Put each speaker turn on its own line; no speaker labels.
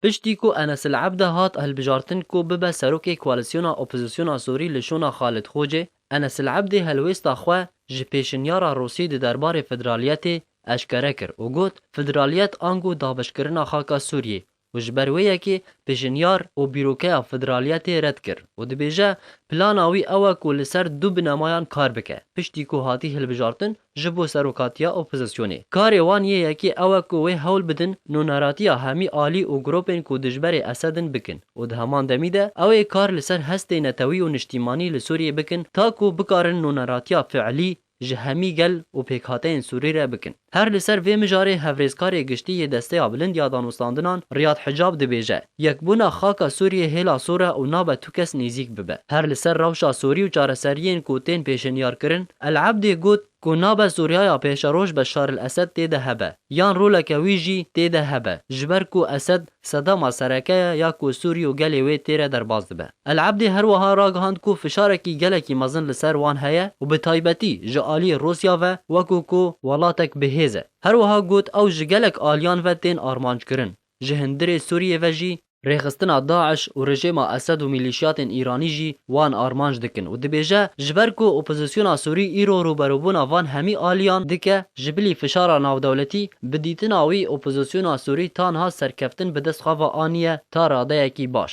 Piştî ku Enes El Ebde hat hilbijartin ku bibe serokê koalîsyona opozîsyona Sûrî li şûna Xalid Xocê, Enes El Ebdê helwêsta xwe ji pêşinyara Rûsî di derbarê federaliyetê eşkere kir û got, Federaliyet ango daxbişkirina xaka Sûriyê û ji ber wê yekê pêşinyar û bîrokeya federaliyetê red kir û dibêje plana wî ew e ku li ser du binemayan kar bike. Piştî ku hatî hilbijartin, Ji bo serokatiya opozisyonê. Karê wan yê yekê ew e ku wê hewl bidin nûneratiya hemî alî û gropên ku dijberê Esed in bikin û di heman demî de ew ê kar li ser hestê netewî û niştîmanî li Sûriyê bikin ta ku bikarin nûneratiya fiilî ji hemî gel û pêkhateyên Sûrî re bikin. Her li ser vê mijarê Hevrêzkarê Giştî yê Desteya Bilind ya Danûstandinan Riyad Hicab dibêje, Yekbûna xaka Sûriyê hêla sor e û nabe bi kes nêzîk bibe. Her li ser rewşa sorî û çareseriyên ku tên pêşenyarkirin, El Ebdî got ku nabe Sûriyaya pêşeroj Beşar El Esed tê de hebe yan roleke wî jî tê de hebe ji ber ku Esed sedema sereke ye ya ku Sûrî û gelê wê tê re derbas dibe. El Ebdî her wiha ragihand ku fişarekî gelekî mezin li ser wan heye û bi taybetî ji aliyê Rûsya ve wekû ku welatek bi hêz e. Her wiha got ew ji gelek aliyan ve tên armanckirin, ji hundirê Sûriyê ve jî, Rêxistina DAIŞ û rejêma Esed û mîlîşyatên Îranî jî wan armanc dikin û dibêje, ji ber ku opozîsyona Sûrî îro rûberûbûna van hemî aliyan dike, ji bilî fişara navdewletî, bi dîtina wî opozîsyona Sûrî tanha serkeftin bi dest xwe ve aniye ta radeyekî baş.